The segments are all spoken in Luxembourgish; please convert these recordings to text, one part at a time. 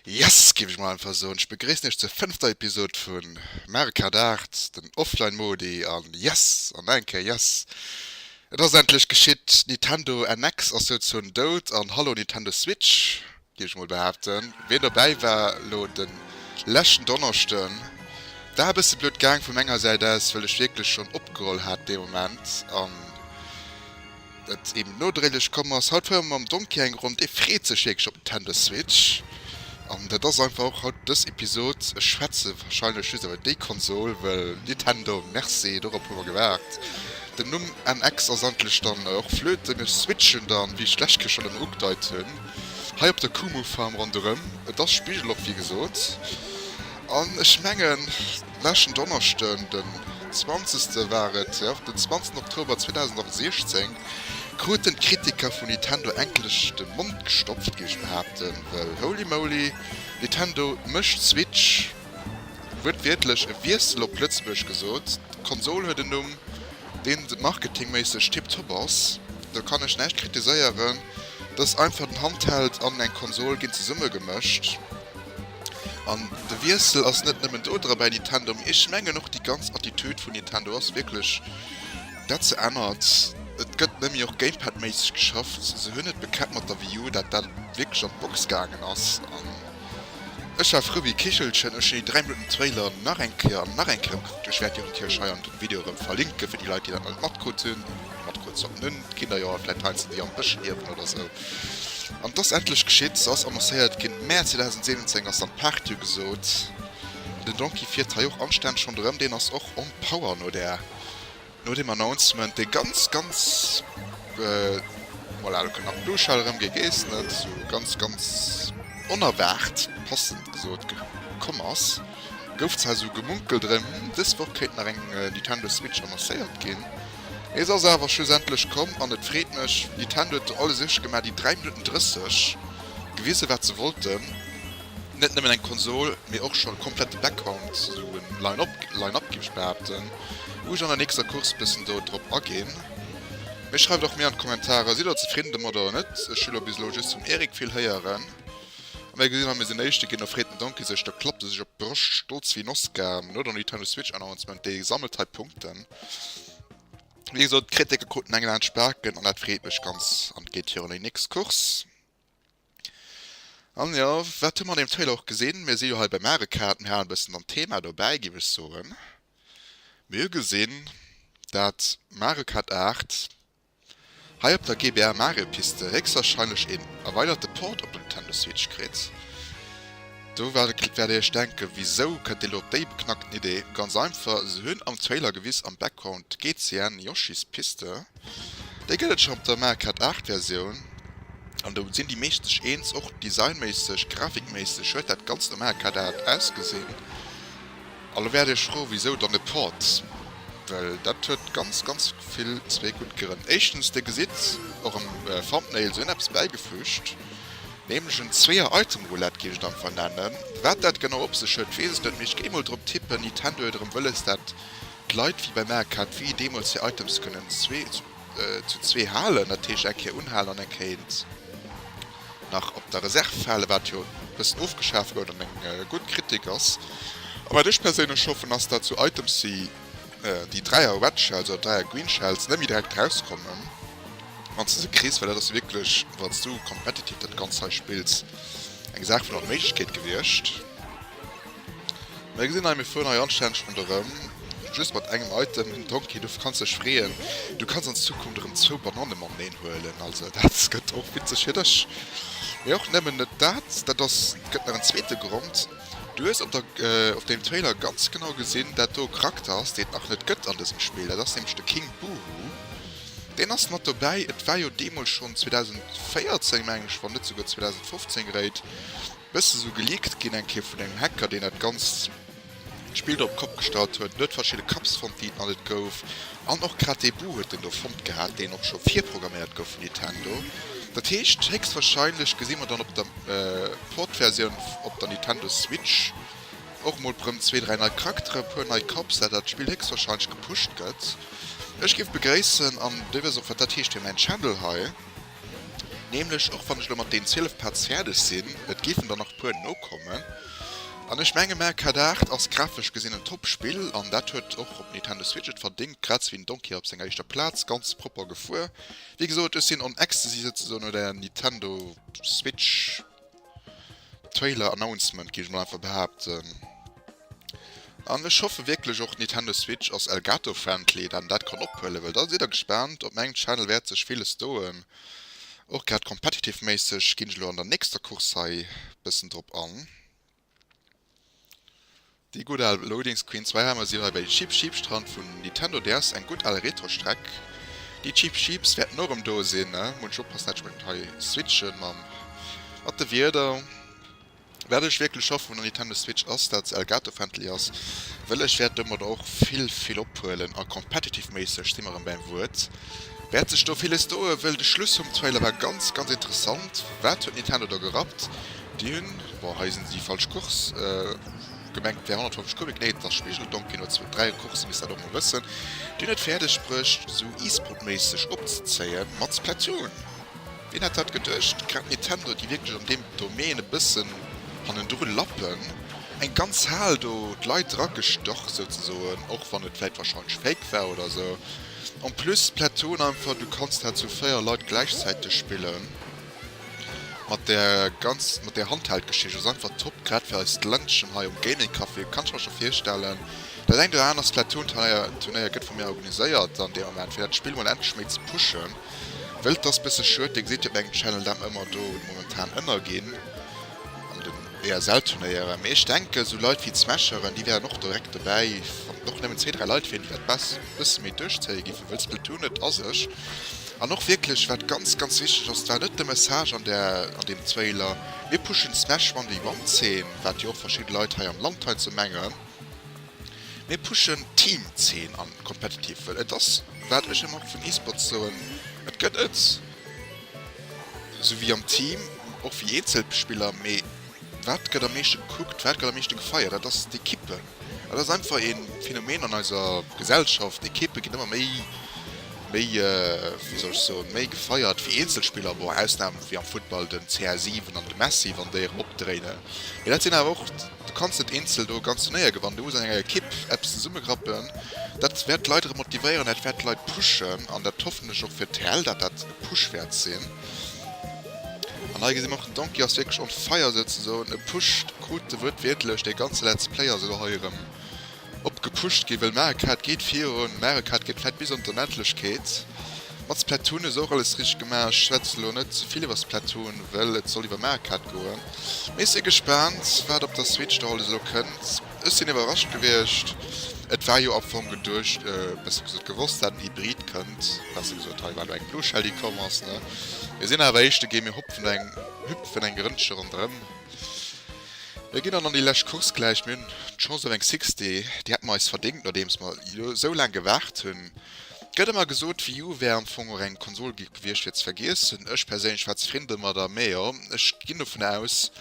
Yes, géif ech mol einfach soen. Ech begréissen iech zur fënnefter Episod vu Mario Kart 8, den Offline-Modi. An yes, an nach eng Kéier yes, et ass endlech geschitt, d'Nintendo NX ass souzoen dout. An hallo Nintendo Switch! Géif ech mol behaapten. Ween dobäi war elo de leschten Donneschden, war e bësse blöd gaang vu menger Säit aus, well ech wierklech schonn opgeholl hat dee Moment an et eben nodréiglech komm ass. Haut fuere mer mam Donkey eng Ronn, dee freet sech wierklech op Nintendo Switch an dat ass einfach och haut dës Episod. Ech schwätze warscheinlech just iwwer déi Konsol, well Nintendo, merci, dorop hu mer gewaart. Den Numm NX ass endlech dann och Flöte. Mir switchen dann, wéi ech d'lescht Kéier schonn ëmmer ugedeit hunn. Hei op der Kumu Farm ronderëm. Et ass spigelop wéi gesot an ech mengen leschten Donneschden den zwanzegste war et, jo den zwanzegsten Oktober 2016 kruten d'Kritiker vun Nintendo enklech de Mond gestopft géif ech behaapten, well holy moly, Nintendo mécht Switch wuertwiertlech e Wiessel op Lëtzebuerg gesot, d'Konsol huet en Numm. deen marketingméisseg tiptop ass, do kann ech näischt kritiséieren, dass einfach den Handheld an eng Konsol ginn zesummegemëscht an de Wiessel ass net nëmmen do dra bei Nintendo, mee ech mengen och déi ganz Attitude vun Nintendo ass wierklech, dat se ännert. Et gëtt nëmme och Gamepad-méisseg geschafft, se hunn et bekäppt mat der Wii U, dat dat wierklech an d'Box gaangen ass. Ech war frou wéi Kichelchen, ech hun déi 3 Minutten Trailer nach eng Kéier an nach eng Kéier ugekuckt. Ech wärt déi natierlech hei an dem Video erëm verlinken fir déi Leit déi dat nach net matkrutt hun. Matkrutt sollten hun d'Kinder jo, vläit halen se déi am Bësch liewen oder sou. An et ass endlech geschitt, se ass annoncéiert gin, Mäerz 2017 ass dann d'Paart jo gesot. Den Donkey fiert hei och anstänneg ronderëm, deen ass och on power no der. No deem Announcement, dee ganz, ganz, voilà, elo kënnt nach den Duschhal erëm, Gee gees net, esou ganz, ganz onerwaart, passend gesot, komm ass, gouf zwar esou gemunkelt erëm, hm, dës Woch kéint nach eng Nintendo Switch annoncéiert ginn. Et ass awer schlussendlech komm an et freet mech. Nintendo huet do alles richteg gemaach, déi 3 Minutten 30 gewiese wat se wollten. Net nëmmen eng Konsol, mee och scho komplette Background, sou e Line-Up géif ech behaapten. Wou ech an der nächster Course bëssen do drop aginn. Mee schreift och mir an d'Kommentarer, sidd der zefridden domat oder net? Ech hu lo bis elo just vum Eric vill héieren. A mir gesinn, hatt misst den éischte ginn, do freet den Donkey sech, do klappt e sech op d'Broscht, stolz wéi en Oscar, no der Nintendo Switch Announcement, dee sammelt hei Punkten. Wéi gesot, d'Kritiker kruten eng Laanz Spaken, an dat freet mech ganz, an et geet virun déi nächst Course. An jo, wat hu mer an deem Trailer och gesinn? Mir si jo hei bei Mario Kart, mir halen e bëssen an Thema dobäi, géif ech soen. Mir hu gesinn, dat Mario Kart 8 hei op der GBA Mario Piste héchstwarscheinlech een erweiderte Port op der Nintendo Switch kritt. Do wäert dir iech denken, wisou kënnt dir elo op déi beknackten Idee? Ganz einfach, se hunn am Trailer gewiss am Background d'GCN Yoshi's Piste. Déi gëtt et schonn op der Marquardt 8 Versioun an do sinn déi meescht sech eens. Och designméisseg, grafikméisseg huet dat Ganzt am Marquardt 8 ausgesinn. A lo wäert Dir Iech froen, wisou dann e Port? Well dat huet ganz, ganz vill, zwee gutt Grënn. Éischtens, Dir gesitt och am Thumbnail, se hunn eppes bäigefüügt, nämlech en Zweeër-Item-Roulette, géif ech et einfach nennen. Wat dat genau op sech huet, weess ech net, mee ech géing mol drop tippen, Nintendo huet erëm wëlles dat D'Leit wéi beim ACAT wéi deemools hir Items kënnen zwee zu zwee halen, dat heescht eng Kéier unhalen an eng Kéint nach op der Reserv halen, wat jo e bëssen ofgeschaaft gouf an eng gutt Kritik ass. A wat ech perséinlech hoffen, ass dat sou Items wéi déi Dräier Red Shells oder Dräier Green Shells net méi direkt erauskommen, wann s de se kriss, well dat ass jo wierklech, wann s du competitive dat Ganzt hei spills, eng Saach vun Onméiglechkeet gewiescht. Mä gesinn hei, mir fueren hei anstänneg ronderëm, just mat engem Item, den Donkey. Du kanns dech freeën, du kanns an Zukunft erëm zwou Bananne mateneen huelen. Also dat gëtt och witzeg fir dech. Mee och nëmmen net dat, dat ass, et gëtt nach en zweete Grond, Du hues op der, op deem Trailer ganz genau gesinn, dat do e Charakter ass, deen et nach net gëtt an dësem Spill. Dat ass nämlech de King Boohoo. Deen ass mat dobäi. Et war jo deemools schonn 2014, meng ech, wann net souguer 2015 geréit. Bësse sou geleakt ginn eng Kéier vun engem Hacker, deen dat ganzt Spill do op d'Kopp gestallt huet. En huet verschidde Cups fonnt, déi et nach net gouf. An och grad dee Bug huet en do fonnt gehat, deen och scho virprogramméiert gouf vun Nintendo. Dat heescht, héchstwarscheinlech gesi mer dann op der Port-Versioun op der Nintendo Switch och emol brëm zwee, dräi nei Charaktere, e puer nei Cups, dat dat Spill héchstwarscheinlech gepusht gëtt. Ech géif begréissen, an Dir wësst och, wat dat heescht fir mäin Channel hei. Nämlech, och wann ech elo mat deenen zwielef Pads fäerdeg sinn, et géifen der nach e puer nokommen. An ech menge Mario Kart 8 ass grafesch gesinn en Top-Spill an dat huet och op Nintendo Switch et verdéngt, grad sou wéi den Donkey op senger éischter Plaz. Ganz propper gefuer, wéi gesot. Ech sinn on ecstasy souzesoen, oder Nintendo Switch. Trailer Announcement géif ech mol einfach behaapten. An ech hoffe wierklech och Nintendo Switch ass Elgato Friendly dat een dat kann ophuelen, well da sidd der gespaant. Op mengem Channel wäert sech villes doen, och grad Competitive méisseg ginn ech elo an der nächster Course hei bëssen drop an. Déi gutt al Loadings Queen Zwee Hämmer si hei bei Cheep Cheep Strand vun Nintendo DS, eng gutt al Retro Streck. Déi Cheep Cheeps wäerten och erëm do sinn, munch oppassen entsprechend hei switchen mam mat de Wierder. Wat ech wierklech hoffen vun der Nintendo Switch ass dat se Elgato Friendly ass, wëll ech wäert domadder och vill vill ophuelen a competitive méisseg si mer erëm bäim Wuert, wäert sech do villes doen, wëll de Schluss vum Trailer war ganz ganz interessant, wat huet Nintendo do gerappt, déi hunn. Bon, hei sinn déi falsch Course gemengt, et wär 150 Kubik, nee et ass Spigeldonk, keen huet zwou, dräi Coursen, misst dat och mol wëssen, deen et fäerdeg brécht esou e-sportméisseg opzezéien, mat Splatoon! Wien hätt dat geduecht, grad Nintendo déi wierklech an deem Domaine e bëssen hannendru lappen, eng ganz Hal do d'Leit dra gestach souzesoen, och wann et vläit wahrscheinlech fake war oder esou. En plus Splatoon einfach, du kanns dat zu véier Leit gläichzäiteg spillen. Mat der ganz mat der Handheld Geschicht ass einfach top grad fir eist Ländchen hei um Gaming Café kann ech mer scho virstellen dat engt oder aner Splatoon Teier Turnéier gëtt vun mir organiséiert an deem Moment fir dat Spill mol endlech méi ze pushen wëll et ass bësse schued dir gesitt jo op mengem Channel dat mer ëmmer do momentan ënner ginn an den BSL Turnéieren, mee ech denken sou Leit wéi d'Smasheren déi wären och direkt dobäi wann et och nemmen zwee dräi Leit wieren déi dat bessen méi duerchzéie giffe wëll Splatoon et ass ech an och wierklech wat ganz ganz wichteg ass war net de Message an der an deem Trailer mir pushen Smash one déi one Zeen wat jo och verschidden Leit hei am Land hei ze mengen mir pushen Team Zeen an competitive wëll et ass wat ech emmer och vun E-Sports soen et gëtt et Sou wéi am Team, och wéi eenzel Spiller, mee wat gëtt am meeschte gekuckt, wat gëtt am meeschte gefeiert, dat ass d'Equipe. Dat ass einfach ee Phänomen an eiser Gesellschaft, d'Equipe ginn ëmmer méi, méi, wéi soll ech soen, méi gefeiert wéi eenzel Spiller. Bon, Ausnahm wéi am Futtball den CR7 an de Messi, wann déi erëm opdréinen, mee dat sinn awer och. Du kanns net eenzel do e ganz Turnéier gewannen. Du muss an enger Ekipp eppes zesummegrappen. Dat wäert d'Leit erëm motivéieren, dat wäert d'Leit pushen. An dat hoffen ech och fir d'TEL, dat dat e Push wäert sinn. An hei gesi mer och, den Donkey ass wierklech on fire souzesoen. E pusht krut e wuertwiertlech dee ganze Let's Play a souguer hei erëm Op gepusht gi wëll Mario Kart geet virun, Mario Kart geet fett bis an d'Onendlechkeet. Mat Splatoon hu se och alles richteg gemaach, ech schwätze lo net zevill iwwer Splatoon wëll et soll iwwer Mario Kart goen. Mee ech si gespaant wat op der Switch da alles elo kënnt, ech sinn iwwerrascht gewiescht, et war jo am Fong geduecht, besser gesot gewosst dat en Hybrid kënnt, besser gesot hei war lo eng Blue Shell déi komm ass ne, mir sinn awer éischt de Game, mir hupfen eng hüpfen eng Rëndche ronderëm. Mir ginn dann an déi lescht Course gläich. Mir hunn d'Chance op eng Six Day, déi hätte mer eis verdéngt, nodeems mer elo esou laang gewaart hunn. Gëtt ëmmer gesot, Wii U wär am Fong och eng Konsol gewiescht fir ze vergiessen. Ech perséinlech war zefridden domadder, mä jo, ech ginn dovun aus,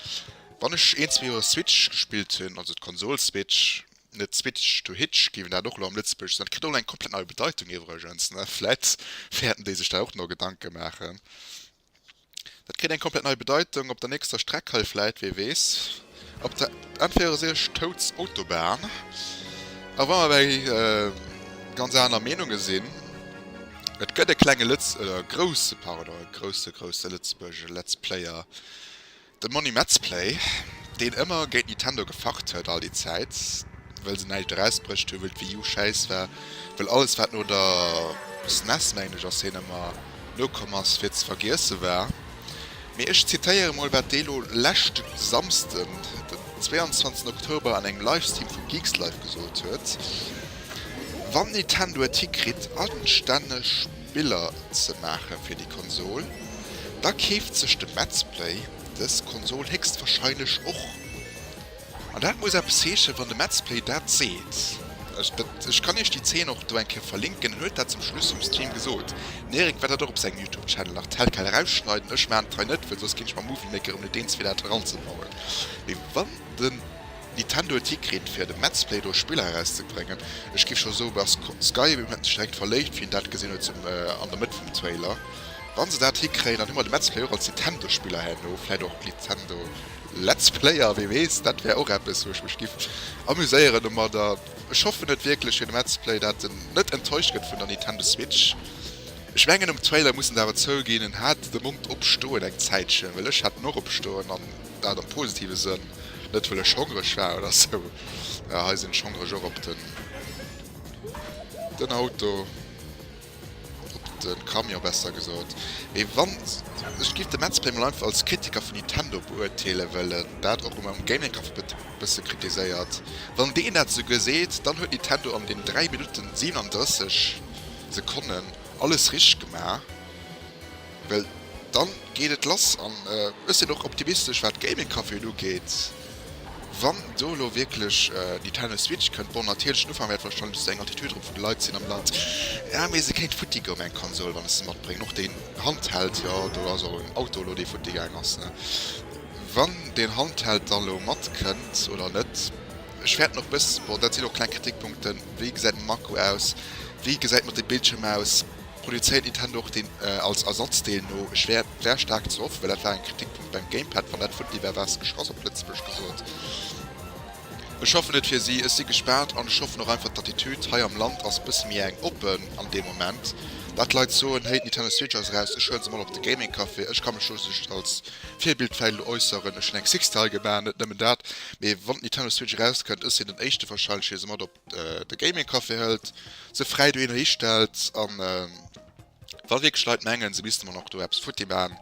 wann ech een, zwee Joer Switch gespillt hunn, also d'Konsol Switch, net Switch to Hitch, géif een dat och elo am Lëtzebuergeschen nennen, kritt och elo eng komplett nei Bedeitung iwwregens, ne? Vläit wäerten déi sech da och nach Gedanke maachen. Dat kritt eng komplett nei Bedeitung op der nächster Streck hei vläit, wee weess. Op der N64 Toads Autobahn. A wa mer bei ganz aner Meenunge sinn, Et gëtt e klenge Lëtz, oder e grousse, pardon, e grousse, grousse Lëtzebuergesche Let's Player, De Monni Metzplay, deen ëmmer géint Nintendo gefacht huet all déi Zäit, wëll se näischt eraus brécht hu, wëll d'Wii U schäiss war, wëll alles wat no der SNES, mengen ech, ass hien ëmmer, nokomm ass, fir ze vergiesse war. Mee ech zitéiere mol wat dee lo leschten Samsden, den 22 Oktober an engem Livestream vum Geekslive gesot huet, Wann Nintendo et hikritt anstänneg, Biller ze maache fir déi Konsol, da keeft sech de Metzplay dës Konsol héchstwahrscheinlech och. An dat muss eppes heeschen, wann de Metzplay dat seet. Ech kann iech déi Zeen och do eng Kéier verlinken. En huet dat zum Schluss um Stream gesot. Den Eric wäert dat och op sengem Youtube Channel nach telquel erausschneiden. Ech maachen et hei net, well soss ginn ech mam Movie Maker erëm net eens fir dat eranzebauen. Mee wann de Nintendo Tick kritt fir de Mets Play Doh Spiller eraus ze bréngen. Ech giff scho soen dass Skyrim huet mech direkt verléift wéi en dat gesinn huet an der Mëtt vum Trailer. Wann se dat hikréien dann hu mer de Mets Play och als Nintendo Spiller herno, vläit och Nintendo Let's Player, wee weess. Dat wär och eppes wou ech mech giff amuséieren domadder. Ech hoffen et wierklech fir de Mets Play dat en net enttäuscht gëtt vun der Nintendo Switch. Ech mengen um Trailer muss en et awer zouginn en hat de Mond op stoen eng Zäitchen, well ech hat en och op stoen an. dat am positive Sënn, net wëll ech hongreg war oder sou, jo hei sinn ech hongreg och op den den Auto, op de Camion besser gesot, mee wann ech giff de Mats Play mol einfach als Kritiker vun Nintendo beurteele well en dat och ëmmer um Gaming Café e bësse kritiséiert, wann deen dat esouguer seet, dann huet Nintendo an den 3 Minutten 37 Sekonnen alles richteg gemaach. Well dann geet et lass an ech sinn och optimistesch wat Gaming Caféen ugeet. Wann do elo wierklech Nintendo Switch kënnt, bon natierlech den Ufank wäert wahrscheinlech esou eng Attitude erop vun de Leit sinn am Land, ja mee se kéint futti goe mat eng Konsol wann ech se matbréngen, och deen Handheld, jo do ass och en Auto elo dee futti gaang ass ne, wann deen Handheld dann elo matkënnt oder net. Ech fäerten och e bëss, bon dat sinn och kleng Kritikpunkten, wéi gesäit den Akku aus, wéi gesäit mat de Bildschierm aus. Produzéiert Nintendo och deen als Ersatzdeel no? Ech wär wär staark ze hoffe well dat war en Kritikpunkt beim Gamepad, wann dat funny war war se geschrass op Lëtzebuerg gesot. Ech hoffen et fir si, ech si gespaant an ech hoffen och einfach d'Attitude hei am Land ass bësse méi eng oppen an deem Moment dat d'Leit soen héi d'Nintendo Switch ass eraus ech huelen se mol op de Gaming Café, ech ka mech do just als Virbild vläit elo äusseren, ech hunn eng Sixtail gemaach net nëmmen dat, mee wann d'Nintendo Switch erauskënnt ech sinn den éischte wahrscheinlech dee se mat op. de Gaming Café hëlt, se fräi dohinner histellt an wa wierklech Leit mengen, se misste mer nach do eppes futti maachen,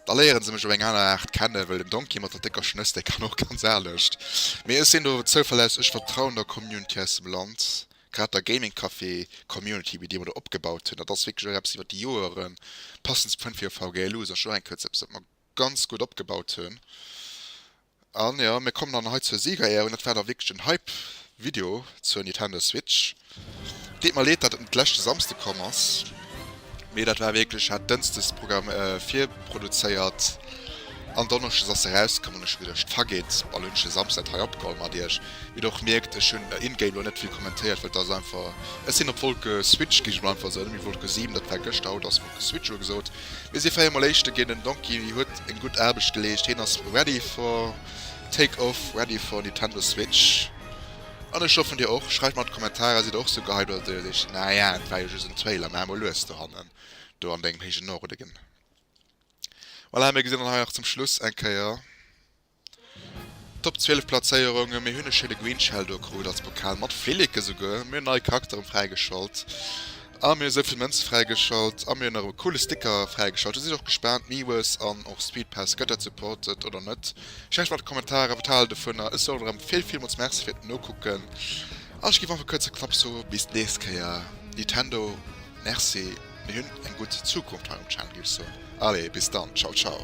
da léiere se mech op eng aner Aart kennen, well den Donkey mat der décker Schnëss, dee kann och ganz anescht. Mee ech sinn do zouverlässeg, ech vertrauen der Community aus dem Land, grad der Gaming Café Community, déi mer do opgebaut hunn. Dat ass wierklech och eppes iwwert déi Joeren, passend Point fir VGLU ass och eng Kéier eppes, wat mer ganz gutt opgebaut hunn. An jo, mir kommen dann hei zur Siegerehrung. Dat war da wierklech en Hype Video zur Nintendo Switch. Et deet mer leed, datt et net leschte Samsde komm ass, mee dat war wierklech, hat dënsdes Programm virproduzéiert an donneschdes ass se erauskomm. An ech hu geduecht, fageet, bal hunn ech e Samsden dat hei opgeholl mat iech. Wéi der och mierkt, ech hunn in-game lo net vill kommentéiert, well et ass einfach, ech sinn op Wolke Switch gi, ech hunn einfach esou net méi Wolke 7, dat war gëschter, haut ass Wolke Switch ugesot. Mir si fréier mol éischte ginn, den Donkey huet eng gutt Aarbecht geleescht, heen ass ready for take off, ready for Nintendo Switch an ech hoffen dir och. Schreift mer an d'Kommentarer, sidd der och sou gehypt oder deiert iech naja et war jo just en Trailer, maach mol lues do hannen do an dengem héijen Norden. Voilà, mir gesinn dann hei nach zum Schluss eng Kéier. Top 12 Platzéierung, mir hunn e schéine Green Shell do krut als Pokal mat Flilleke souguer, mir hunn nei Charakteren fräigeschalt a mir hu souvill Mënze fräigeschalt a mir hunn nach e coole Sticker fräigeschalt. Do sinn ech och gespaant, Miwes an och Speed Pass, gëtt dat supported oder net? Schreift mer an d'Kommentaren, wat hal der dovunner? Ech soen erëm vill villmools Merci fir d'Nokucken a ech géif einfach kuerz a knapp soe bis d'nächst Kéier. Nitendo, Merci, mir hunn eng gutt Zukunft hei um Channel, géif ech soen. Allez, bis dann, ciao ciao.